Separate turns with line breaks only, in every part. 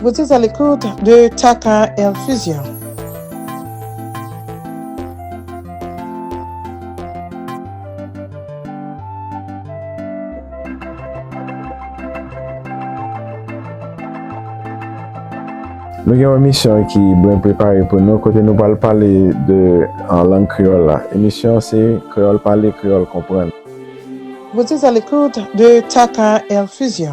Vous êtes à l'écoute de Tata Infusion.
Nou gen yon emisyon ki bwen prepare pou nou kote nou pal pale de an lang kreyòl la. Emisyon se Kreyòl Pale, Kreyòl Konprann. Vous
êtes à l'écoute de Tata Infusion.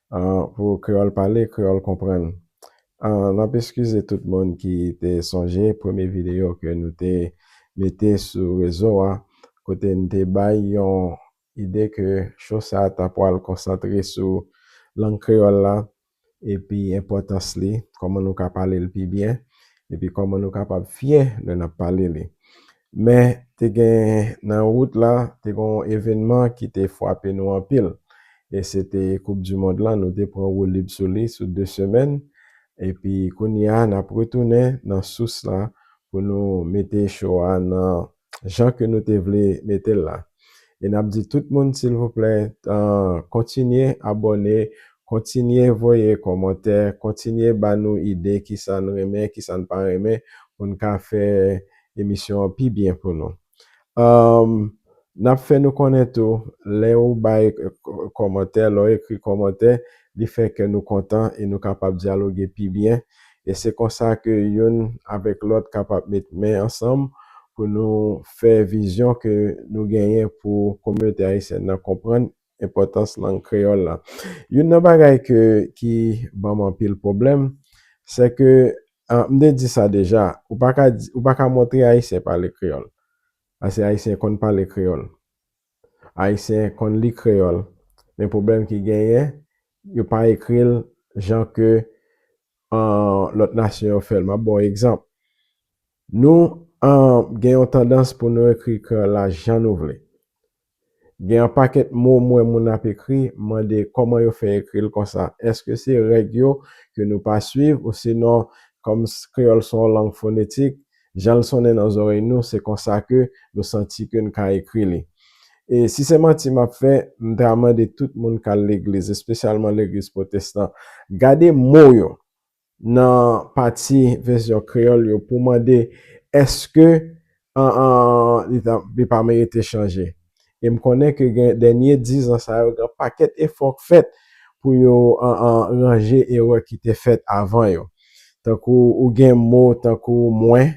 An pou kreyòl pale, kreyòl konprann. An n ap eskize tout moun ki te sonje premye videyo ke nou te mete sou rezo a, kote n te bay yon ide ke cho sa a ta pwal konsantre sou lang kreyòl la epi enpòtans li, kòman nou ka pale l pi byen, epi kòman nou kapab fyè lè n ap pale li. Men, te gen, nan wout la, te gen yon evenman ki te fwape nou anpil. E se te koup di mond lan, nou te pran woulib sou li sou 2 semèn. Epi kounye a, n ap retounen nan sous la pou nou mete cho a nan jan ke nou te vle mete l la. E n ap di tout moun silvouplè, kontinye abòne, kontinye voye kòmantè, kontinye ba nou ide kisa n renmen, kisa n pa renmen, pou n ka fè emisyon an pi byen pou nou. N ap fè nou konnen tou, lè ou bay kòmantè, lè w ekri kòmantè, li fè kè nou kontan e nou kapab dyaloge pi byen. E se konsa ke youn avèk lòt kapab met men ansanm pou nou fè vizyon ke nou genyen pou kominote ayisyèn nan konprann enpòtans lang kreyòl la. Youn nan bagay ke ki ban m anpil pwoblèm, se ke, m te di sa deja, ou pa ka di, ou pa ka montre Ayisyen pale kreyòl. Paske Ayisyen konn pale kreyòl. Ayisyen konn li kreyòl. Men pwoblèm ki genyen, yo pa ekri l jan ke lòt nasyon yo fè l. M ap ba w egzanp. Nou gen yon tandans pou nou ekri kreyòl la jan nou vle. Gen anpakèt mo m wè moun ap ekri, m mande kòman yo fè ekri l konsa? Èske se règ yo ke nou pa suiv ousinon kòm kreyòl se yon lang fonetik, jan l sonnen nan zòrèy nou se konsa ke nou santi ke n ka ekri li? E si se manti m ap fè, m ta mande tout moun k al legliz, espesyalman legliz pwotestan, gade mo yo nan pati vèsyon kreyòl yo pou mande èske li pa merite chanje. E m konnen ke gen dènye dizan sa yo gen pakèt efò k fèt pou yo ranje erè ki te fèt avan yo. Tankou ou gen mo tankou mwen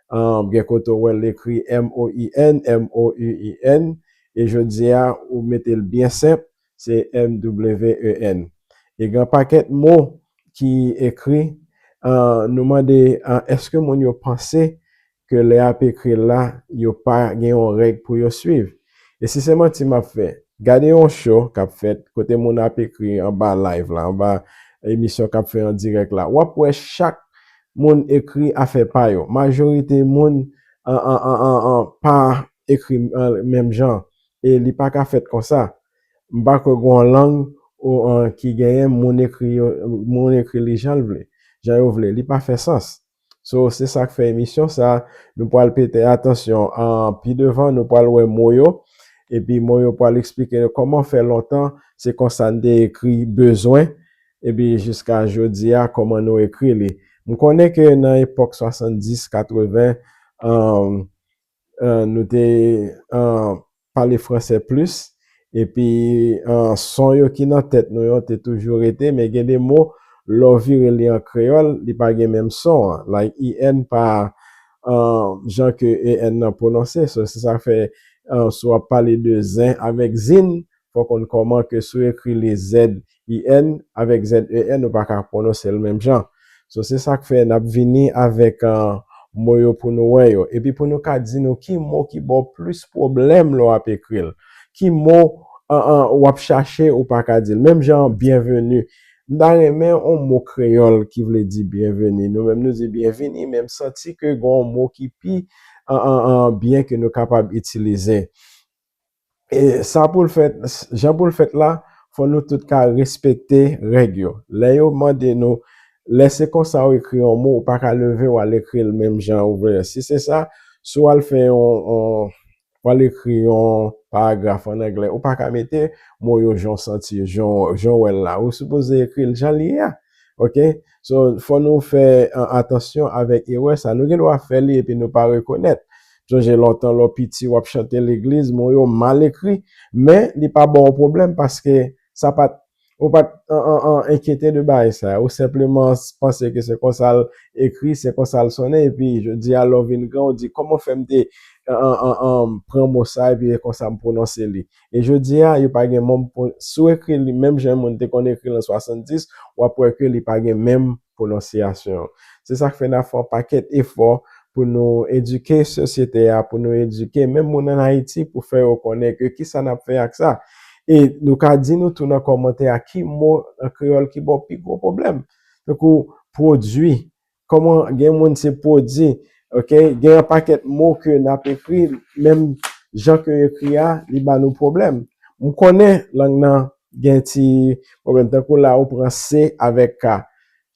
An gen kote w wè l ekri MOUIN, M-O-U-I-N, e jodi a ou mete l byen senp, se M-W-E-N. E gen yon pakèt mo ki ekri, an nou mande an èske moun yo panse ke lè y ap ekri l la, yo pa gen yon règ pou yo suiv? E si se manti m ap fè? Gade yon cho k ap fèt, kote moun ap ekri anba live la, anba emisyon k ap fè an dirèk la, w ap wè chak moun ekri afè pa yo. Majorite moun pa ekri menm jan e li pa ka fèt konsa. M pa kwè gen yon lang ki genyen moun ekri yo, moun ekri li jan l vle, jan yo vle. Li pa fè sans. So, se sa k fè emisyon sa a, nou pral pete atansyon. Pi devan, nou pral wè mo yo epi mo yo pral esplike nou kòman fè lontan se konsa n te ekri bezwen Epi jiska jodi a kòman nou ekri li. M konnen ke nan epòk 70, 80, nou te pale franse plis, epi son yo ki nan tèt nou yo te toujou rete, men gen de mo lè w vire li an kreyòl, li pa gen menm son an. Like IN pa jan ke EN nan pwononse. So se sa k fè si w ap pale de zen avèk zin, fò w konn kòman ke si w ekri li z-i-n avèk z-e-n ou pa ka pwononse l menm jan. So se sa k fè n ap vini avèk mo yo pou nou wè yo. Epi pou nou ka di nou ki mo ki ba w plis pwoblèm lè w ap ekri l. Ki mo w ap chache ou pa ka di l. Menm jan byenveni. M ta renmen yon mo kreyòl ki vle di byenveni. Nou menm nou di byenvini men m santi ke gen yon mo ki pi byen ke nou kapab itilize. E sa pou l fèt, jan pou l fèt la, fò nou tout ka respekte règ yo. Lè yo mande nou, lè se konsa ou ekri yon mo, ou pa ka leve w al ekri l menm jan ou vle. Si se sa, si w al fè yon, w al ekri yon paragraf an angle, ou pa ka mete mo yo jan w santi yo, jan w wè l la. Ou sipoze ekri l jan l ye a. Ok? So, fò nou fè atansyon avèk erè sa. Nou gen dwa fè li epi nou pa rekonèt. Sonje lontan lè w piti w ap chante legliz, mo yo mal ekri, men li pa ba w pwoblèm paske sa pa t, ou pa t enkyete de bagay sa yo. Ou senpleman panse ke se konsa l ekri, se konsa l sonnen epi jodi a lè w vin gran ou di kòman fè m te pran mo sa epi e konsa m pwononse li. E jodi a yo pa gen mo, si w ekri li menm jan moun te konn ekri l an 70, w ap wè ke li pa gen menm pwononsyasyon. Se sa k fè n ap fè yon pakèt efò pou nou edike sosyete a, pou nou edike menm moun ann Ayiti pou fè yo konnen ke ki sa n ap fè ak sa. E nou ka di nou tou nan kòmantè a ki mo an kreyòl ki ba w pi gwo pwoblèm. Tankou pwodui, kòman gen moun se pwodi, ok. Gen yon pakèt mo ke n ap ekri, menm jan ke yo ekri a, li ba nou pwoblèm. M konnen lang nan Gen ti pwoblèm tankou la ou pran se avèk ka.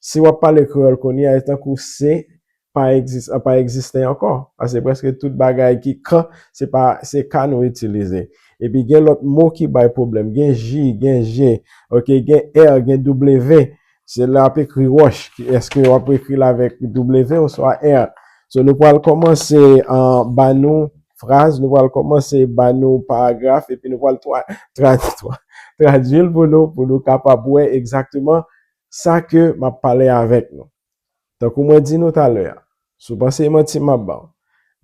Si w ap pale kreyòl kounye a, e tankou se pa egzis, an pa egziste ankò. Pase prèske tout bagay ki ka, se pa, se ka nou itilize. Epi gen lòt mo ki bay pwoblèm. Gen ji, gen je, ok, gen è, gen double ve. Se lè ap ekri Roche ki eske wap ekri l avèk W oswa R. So nou pral kòmanse an ba nou fraz, nou pral kòmanse ba nou paragraf epi nou pral tradui l pou nou pou nou kapab wè egzakteman sa ke m ap pale avèk nou. Tankou mwen di nou talè a, si w panse e manti m ap ba w,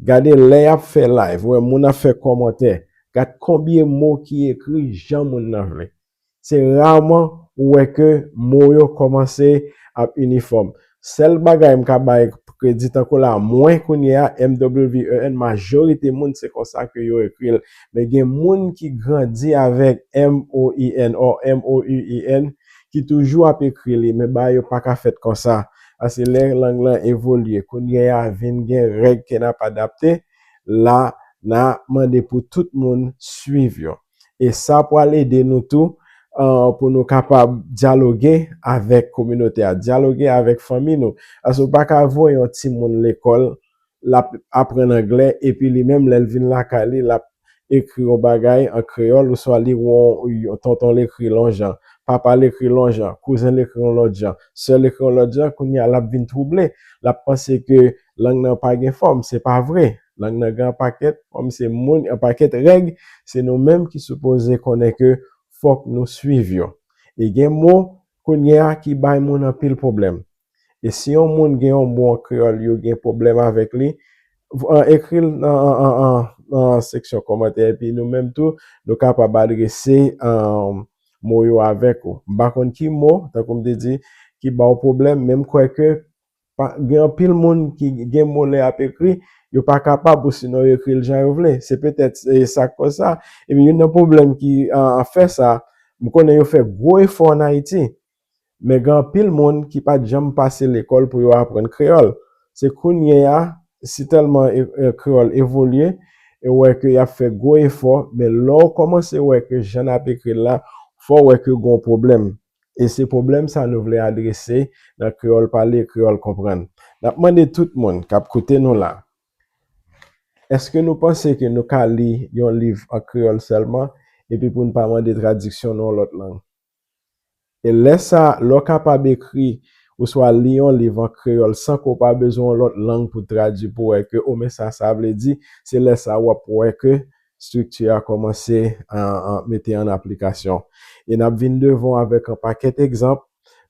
gade lè y ap fè live, wè moun ap fè kòmantè, gad konbyen mo ki ekri jan moun nan vle. Se rarement ou wè ke mo yo komanse ap inifòm. Sèl bagay m ka bay kredi tankou la mwen kounye a MWEN majorite moun se konsa ke yo ekri l. Men gen moun ki grandi avèk MOIN or MOUIN ki toujou ap ekri li men bagay yo pa ka fèt konsa. Paske lè lang lan evolye kounye a vin gen règ ke n ap adapte la na mande pou tout moun swiv yo. E sa pral ede nou tou pou nou kapab dyaloge avèk kominote a, dyaloge avèk fanmi nou. Paske ou pa ka voye yon timoun lekòl, l ap aprann angle, epi li menm lè l vin lakay li, l ap ekri yon bagay an kreyòl oswa li wè yon tonton l ekri l yon jan, papa l ekri l yon jan, kouzen l ekri l yon lòt jan, sè l ekri l yon lòt jan, kounye a l ap vin twouble, l ap panse ke lang nan pa gen fòm. Se pa vre. Lang nan gen anpakèt fanm se moun, anpakèt règ, se nou menm ki sipoze konnen ke fòk nou swiv yo. E gen mo kounye a ki bay moun anpil pwoblèm. E si yon moun gen yon mo an kreyòl yo gen pwoblèm avèk li, ekri l nan seksyon kòmantè epi nou menm tou nou kapab adrese mo yo avèk ou. M pa konn ki mo, tankou m te di, ki ba w pwoblèm men m kwè ke Gen anpil moun ki gen mo lè y ap ekri, yo pa kapab osinon yo ekri l jan yo vle. Se petèt sa k kòz sa. Epi youn nan pwoblèm ki fè sa, m konnen yo fè gwo efò ann Ayiti, men gen anpil moun ki pa t janm pase lekòl pou yo aprann kreyòl. Se kounye a, si tèlman kreyòl evolye, ou wè ke y ap fè gwo efò, men lè w kòmanse wè ke jan n ap ekri l la, fò w wè ke gen yon pwoblèm. e se pwoblèm sa nou vle adrese nan Kreyòl Pale, Kreyòl Konprann. N ap mande tout moun k ap koute nou la, èske nou panse ke nou ka li yon liv an kreyòl sèlman epi pou n pa mande tradiksyon nan yon lòt lang? E lè sa, lè w kapab ekri oswa li yon liv an kreyòl san ke w pa bezwen yon lòt lang pou tradui pou wè ke o men sa sa vle di, se lè sa w ap wè ke Estrikti a kòmanse mete an aplikasyon. E n ap vin devan w avèk yon pakèt egzanp,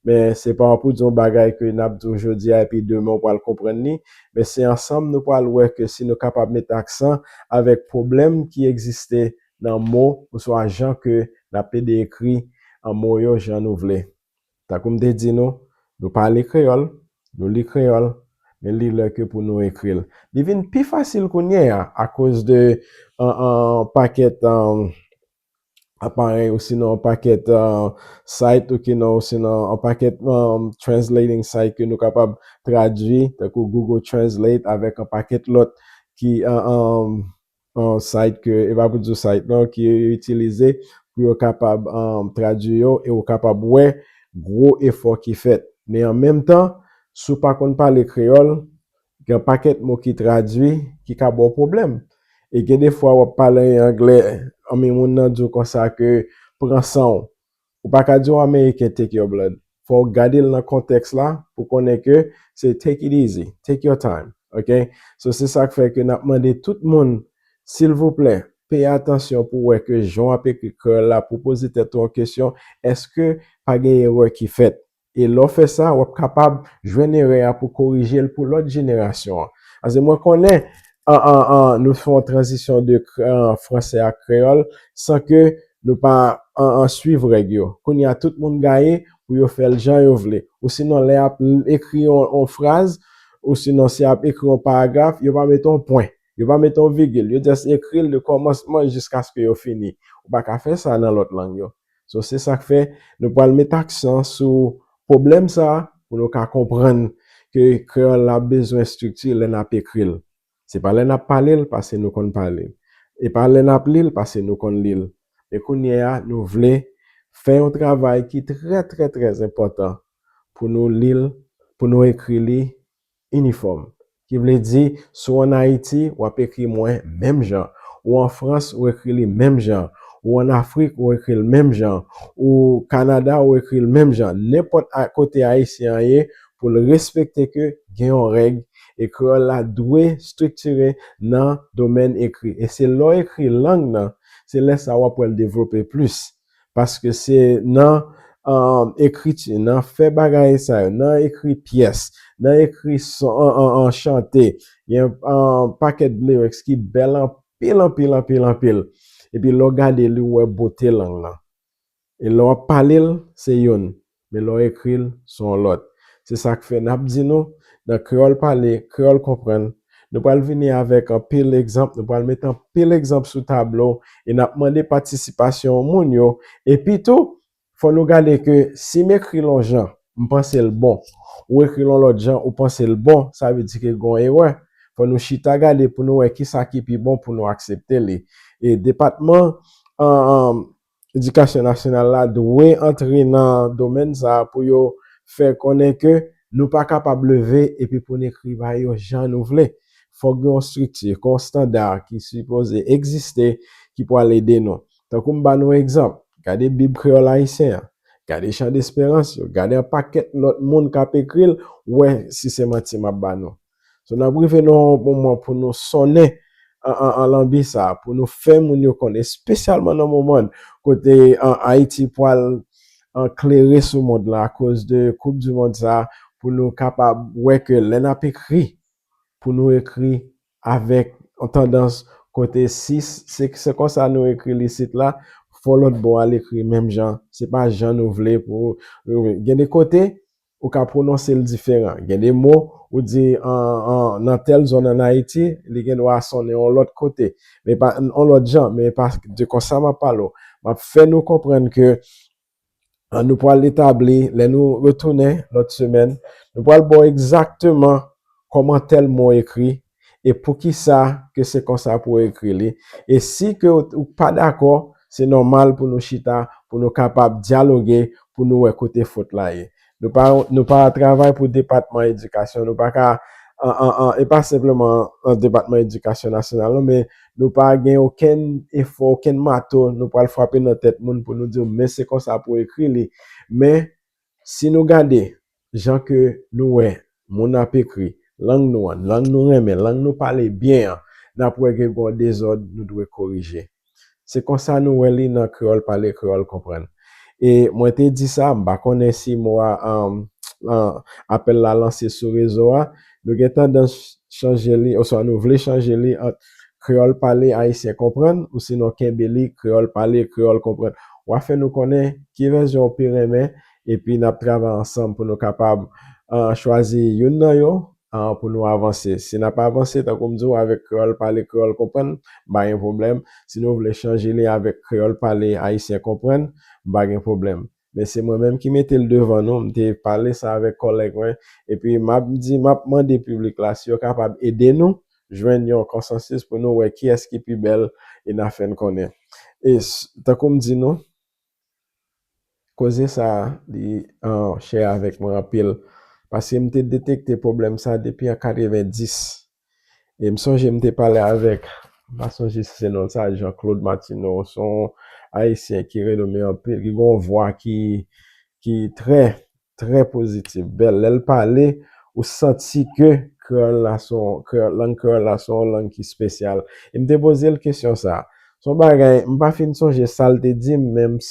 men se pa pou di yon bagay ke n ap di w jodi a epi demen ou pral konprann li, men se ansanm nou pral wè ke si nou kapab mete aksan avèk pwoblèm ki egziste nan mo oswa jan ke n ap ede ekri mo yo jan nou vle. Tankou m te di nou, nou pale kreyòl, nou li kreyòl, men li lè ke pou nou ekri l. Li vin pi fasil kounye a akoz de yon pakèt aparèy osinon yon pakèt site osinon yon pakèt translating site ke nou kapab tradui tankou Google Translate avèk yon pakèt lòt ki yon site ke, e pa pou di w site non, ke yo itilize pou yo kapab tradui yo e ou kapab wè gwo efò ki fèt. Men an menm tan, si w pa konn pale kreyòl, gen yon pakèt mo ki tradui ki ka ba w pwoblèm. E gen defwa w ap pale anglè, anmwe moun nan di w konsa ke pran san w. Ou pa ka di yon Ameriken take your blood. Fò w gade l nan kontèks la pou konnen ke se take it easy, take your time, ok? So se sa k fè ke n ap mande tout moun, silvouplè, peye atansyon pou w wè ke jan w ap ekri Curl la pou w poze tèt ou yon kesyon, èske pa gen erè ki fèt? E lè w fè sa, w ap kapab jwenn erè a pou w korije l pou lòt jenerasyon an. Pase mwen konnen nou fè yon tranzisyon de franse a kreyòl san ke nou pa swiv règ yo. Kounye a, tout moun gaye pou yo fè l jan yo vle. Osinon, lè y ap ekri yon fraz, osinon si y ap ekri yon paragraf, yo pa mete yon pwen, yo pa mete yon vigil. Yo jis ekri l de kòmansman jiskaske yo fini. Ou pa ka fè sa nan lòt lang yo. So se sak fè nou pral met aksan sou pwoblèm sa pou nou ka konprann ke kreyòl la bezwen estrikti lè nap ekri l. Se pa lè nap pale l pase nou konn pale l. E pa lè nap li l pase nou konn li l. Men kounye a nou vle fè yon travay ki trè trè trè enpòtan pou nou li l, pou nou ekri li Inifòm. Ki vle di, si w an Ayiti, w ap ekri mwen menm jan. Ou an Frans, ou ekri li menm jan. Ou an Afrik, ou ekri l menm jan. Ou Kanada, ou ekri l menm jan. Nenpòt a kote Ayisyen an ye, pou l respekte ke gen yon règ, e kreyòl la dwe striktire nan domèn ekri. E se lè w ekri lang nan, se lè sa a w ap wè l devlope plis. Paske se nan ekriti, nan fè bagay sa yo, nan ekri pyès, nan ekri chante, gen yon pakèt lyrics ki bèl anpil, anpil, anpil, anpil. Epi lè w gade li, ou wè bote lang nan. E lè w ap pale l, se youn. Men lè w ekri l, s on w lòt. Se sa k fè n ap di nou, nan Kreyòl Pale, Kreyòl Konprann, nou pral vini avèk anpil egzanp, nou pral met anpil egzanp sou tablo e n ap mande patisipasyon moun yo. Epitou, fò nou gade ke si m ekri l on jan, m panse l bon. Ou ekri l on lòt jan, ou panse l bon, sa vle di ke gen yon erè. Fò nou chita gade pou nou wè kisa ki pi bon pou nou aksepte li. E depatman Edikasyon nasyonal la dwe antre nan domèn sa a pou yo fè konnen ke nou pa kapab leve epi pou n ekri ba yo jan nou vle. Fòk gen yon estrikti, gen yon standa ki sipoze egziste ki pwal ede nou. Tankou m ba nou egzanp, gade Bib Kreyòl Ayisyen an, gade Chandesperans yo, gade an pakèt lòt moun k ap ekri l, wè si se manti m ap ba nou. So n ap rive nan yon moman pou nou sonnen lanbi sa a, pou nou fè moun yo konnen, espesyalman nan moman kote Ayiti pral klere sou mond lan akoz de koup di mond sa a, pou nou kapab wè ke lè n ap ekri, pou nou ekri avèk yon tandans kote si se konsa nou ekri li isit la, fò lòt bò a l ekri menm jan, se pa jan nou vle pou, gen de kote Ou ka pwononse l diferan. Gen de mo, ou di nan tèl zòn ann Ayiti, li gen dwa sonnen yon lòt kote, men pa yon lòt jan. Men pa de konsa m ap pale w. M ap fè nou konprann ke nou pral etabli, lè nou retounen lòt semèn, nou pral ba w egzakteman kòman tèl mo ekri e poukisa ke se konsa pou w ekri li, e si ke ou pa dakò, se nòmal pou nou chita, pou nou kapab dyaloge, pou nou wè kote fot la ye. Nou pa nou pa travay pou depatman edikasyon, nou pa ka e pa senpleman depatman edikasyon nasyonal non, men nou pa gen okenn efò, okenn mato nou pral frape nan tèt moun pou nou di yo men se konsa pou w ekri li, men Si nou gade jan ke nou wè moun ap ekri lang nou an, lang nou renmen, lang nou pale byen an, n ap wè gen yon dezòd nou dwe korije. Se konsa nou wè li nan Kreyòl Pale Kreyòl Konprann. E mwen te di sa, m pa konnen si mo a, apèl la lanse sou rezo a, nou gen tandans chanje li oswa nou vle chanje li ant Kreyòl pale, Ayisyen konprann, ou sinon kenbe li, Kreyòl pale, Kreyòl konprann. W a fè nou konnen ki vèzyon ou pi renmen epi n ap travay ansanm pou nou kapab chwazi youn nan yo pou nou avanse. Si n ap avanse, tankou m di w, avèk Kreyòl pale, Kreyòl konprann, m pa gen pwoblèm. Si nou vle chanje li avèk Kreyòl pale, Ayisyen konprann, m pa gen pwoblèm. Men se mwen menm ki mete l devan nou, m te pale sa avèk kòlèg mwen, epi m ap di, m ap mande piblik la si yo kapab ede nou jwenn yon konsansis pou nou wè kiyès ki pi bèl e n a fè n konnen. E tankou m di nou, koze sa a li chè avèk mwen anpil, paske m te detekte pwoblèm sa a depi an 90, E m sonje m te pale avèk, m pa sonje si se non l sa, Jean Claude Martineau, se yon Ayisyen ki renome anpil, ki gen yon vwa ki ki trè, trè pozitif, bèl. Lè l pale, ou santi ke kreyòl la se yon, lang kreyòl la se yon lang ki spesyal. E m te poze l kesyon sa a. Se yon bagay, m pa fin sonje sa l te di m, men m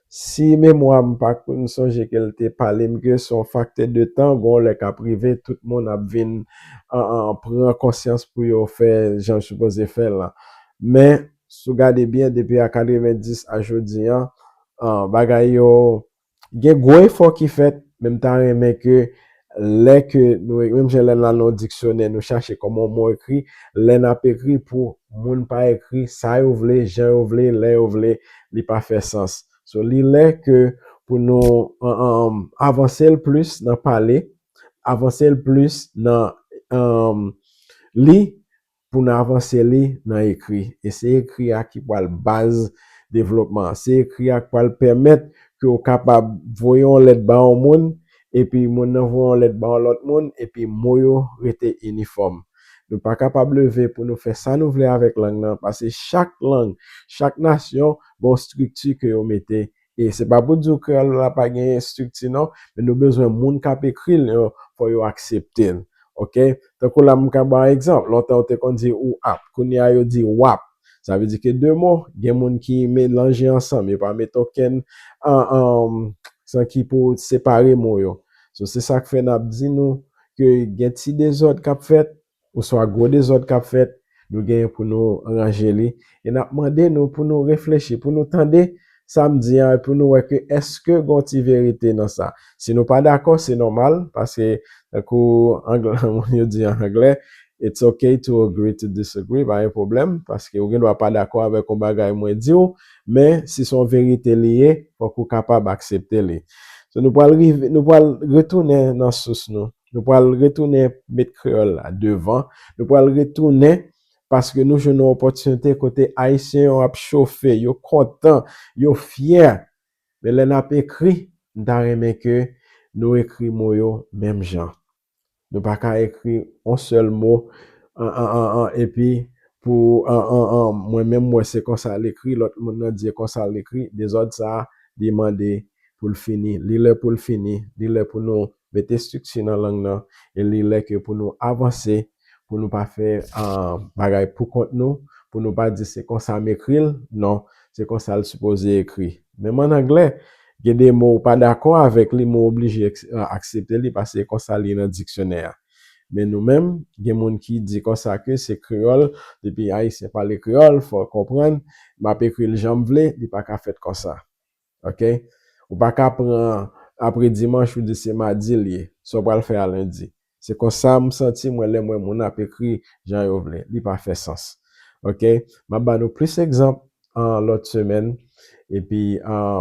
Si memwa m pa koup m sonje ke l te pale m ke se yon faktè de tan, gen yon lè k ap rive tout moun ap vin pran konsyans pou yo fè jan yo sipoze fè l lan. Men, si w gade byen depi a 90 a jodi an, bagay yo gen gwo efò ki fèt men m ta renmen ke lè ke nou ekri, menm jan lè nou al nan yon diksyonè nou chache kòman yon mo ekri, lè n ap ekri pou moun pa ekri sa yo vle, jan yo vle, lè yo vle, li pa fè sans. So, li lè ke pou nou avanse l plis nan pale, avanse l plis nan li pou n avanse li nan ekri. E se ekri a ki pral baz devlopman an. Se ekri a k pral pèmèt ke w kapab voye yon lèt ba yon moun, epi moun nan voye yon lèt ba yon lòt moun, epi mo yo rete inifòm. Nou pa kapab leve pou nou fè sa nou vle avèk lang nan, pase chak lang, chak nasyon gen yon estrikti ke yo mete E se pa pou di w kreyòl la pa gen estrikti non, men nou bezwen moun k ap ekri l yo, fò yo aksepte l. Ok? Tankou la m ka ba w egzanp, lontan yo te konn di ou ap, kounye a yo di w ap. Sa vle di ke de mo, gen moun ki melanje ansanm, yo pa mete okenn aksan ki pou separe mo yo. So se sa k fè n ap di nou ke gen ti dezòd k ap fèt, oswa gwo dezòd k ap fèt, nou genyen pou nou ranje li. E n ap mande nou pou nou reflechi, pou nou tande sa m di a e pou nou wè ke èske gon ti verite nan sa. Si nou pa dakò, se nòmal, paske tankou moun yo di an anglè, It's ok to agree to disagree, pa gen pwoblèm, paske ou gen dwa pa dakò avèk yon bagay mwen di w, men si se yon verite li ye, fòk ou kapab aksepte li. Nou pral retounen nan sous nou. Nou pral retounen met kreyòl la devan. Nou pral retounen paske nou jwenn yon opòtinite kote Ayisyen yo ap chofe, yo kontan, yo fyè. Men lè n ap ekri, m ta renmen ke nou ekri mo yo menm jan. Nou pa ka ekri yon sèl mo epi pou mwen menm m wè se konsa l ekri, lòt moun nan di se konsa l ekri. Dezòd sa a, li mande pou l fini. Li lè pou l fini. Li lè pou nou mete estrikti nan lang nan e li lè ke pou nou avanse pou nou pa fè bagay pou kont nou pou nou pa di se konsa m ekri l non se konsa l sipoze ekri menm an anglè gen de mo ou pa dakò avèk li men w oblije aksepte li paske se konsa li ye nan diksyonè a men nou menm gen moun ki di konsa ke se kreyòl depi ayisyen pale kreyòl fò w konprann m ap ekri l jan m vle li pa ka fèt konsa. ok ou paka pran apre dimanch ou di se madi l ye sa w pral fè a lendi se konsa m santi mwen lè m wè moun ap ekri jan yo vle li pa fè sans ok m ap ba nou plis egzanp lòt semèn epi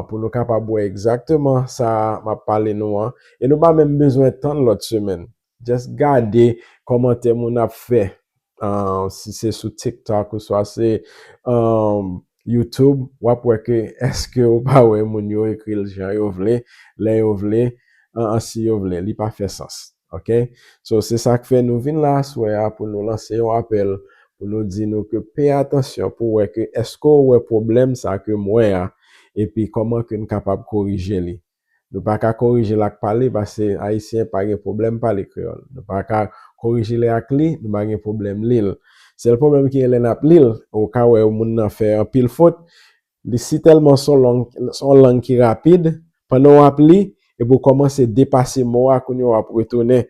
pou nou kapab wè egzakteman sa m ap pale nou an e nou pa menm bezwen tann lòt semèn Just gade kòmantè moun ap fè si se sou tiktok ou swa se youtube wap wè ke eske ou pa wè moun yo ekril jan yo vle lè yo vle an si yo vle li pa fè sans ok so se sak fè nou vin la aswè a pou nou lanse yon apèl pou nou di nou ke pè atansyon pou wè ke eske ou wè pwoblèm sa kem wè a epi kòman kem kapab korije li Nou pa ka korije l ak pale pase Ayisyen pa gen pwoblèm pale kreyòl. Nou pa ka korije l ak li, nou pa gen pwoblèm li l. Sèl pwoblèm ki gen lè n ap li l, ou ka wè moun nan fè anpil fot, li si tèlman s on lang ki rapid, pandan w ap li, epi w kòmanse depase mo a, kounye a w ap retounen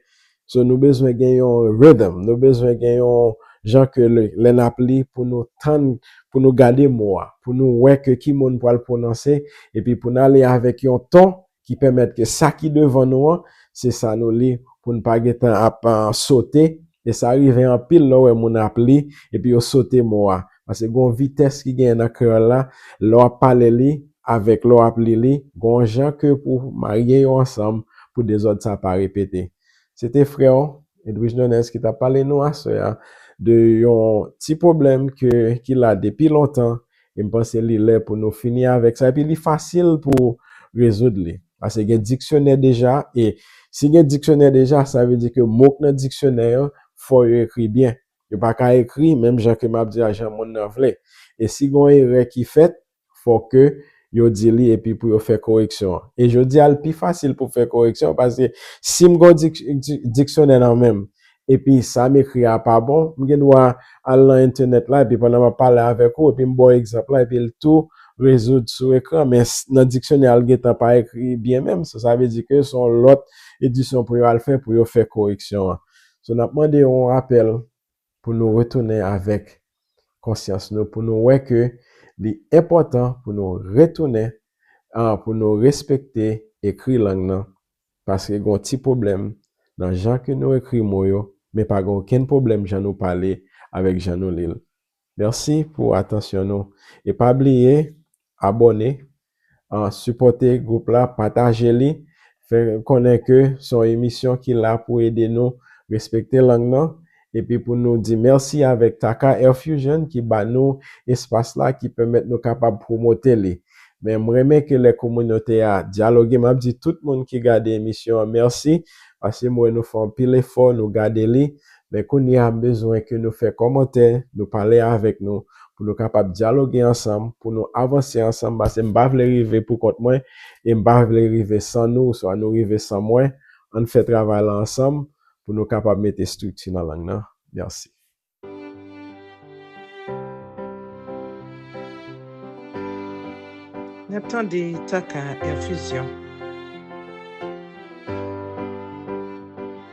So nou bezwen gen yon rhythm, nou bezwen gen yon jan ke lè n ap li pou nou tann, pou nou gade mo a, pou nou wè ke ki mo n pral pwononse, epi pou n ale avèk yon ton ki pèmèt ke sa ki devan nou an, se sa nou li pou n pa gen tan ap sote, e sa rive anpil lè w wè moun ap li epi yo sote mo a. Pase gon vitès ki genyen nan kreyòl la, lè w ap pale li avèk lè w ap li li, gon jan ke pou w marye yo ansanm pou dezòd sa pa repete. Se te frè w, Edwige Nunez ki t ap pale nou aswè a de yon ti pwoblèm ke ki la depi lontan e m panse li lè pou nou fini avèk sa epi li fasil pou rezoud li. Pase gen diksyonè deja e si gen diksyonè deja sa vle di ke mo k nan diksyonè yo fò yo ekri byen. Yo pa ka ekri menm jan ke map di a jan moun nan vle. E si gon erè ki fèt, fò ke yo di li epi pou yo fè koreksyon an. E jodi a l pi fasil pou fè koreksyon paske si m gon diksyonè nan menm epi sa m ekri a pa bon, m gen dwa al nan entenèt la epi pandan map pale avèk ou epi m ba w egzanp la epi l tou rezoud sou ekran men nan diksyonè a l gentan pa ekri byen menm. So sa vle di ke son lòt edisyon pou yo al fè pou yo fè koreksyon an. So n ap mande yon rapèl pou nou retounen avèk konsyans nou, pou nou wè ke li enpòtan pou nou retounen an pou nou respekte ekri lang nan, paske gen yon ti pwoblèm nan jan ke nou ekri mo yo, men pa gen okenn pwoblèm jan nou pale avèk jan nou li l. Merci pou atansyon nou e pa bliye abone an sipote group la pataje li fè konnen ke son emisyon ki la pou ede nou respekte lang nan epi pou nou di merci avek Tacar Air Fusion ki ba nou espas la ki pèmèt nou kapab promote li men m renmen ke lè kominote a dyaloge map di tout moun ki gade emisyon an merci paske m wè nou fè anpil efò nou gade li Men kounye a m bezwen ke nou fè kòmantè, nou pale avèk nou, pou nou kapab dyaloge ansanm, pou nou avanse ansanm, pase m pa vle rive pou kont mwen, e m pa vle rive san nou, oswa nou rive san mwen, ann fè travay lan ansanm, pou nou kapab mete estrikti nan lang nan. Mèsi. N ap tande Taka Infusion.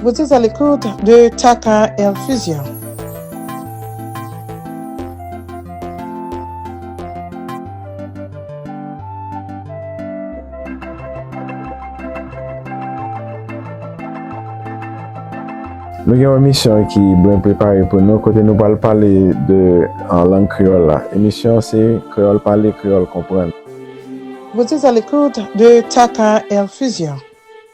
Vous êtes à l'écoute de Tata Infusion.
Nou gen yon emisyon ki bwen prepare pou nou kote nou pral pale de an lang kreyòl la. Emisyon se Kreyòl Pale, Kreyòl Konprann. Vous
êtes à l'écoute de Tata Infusion.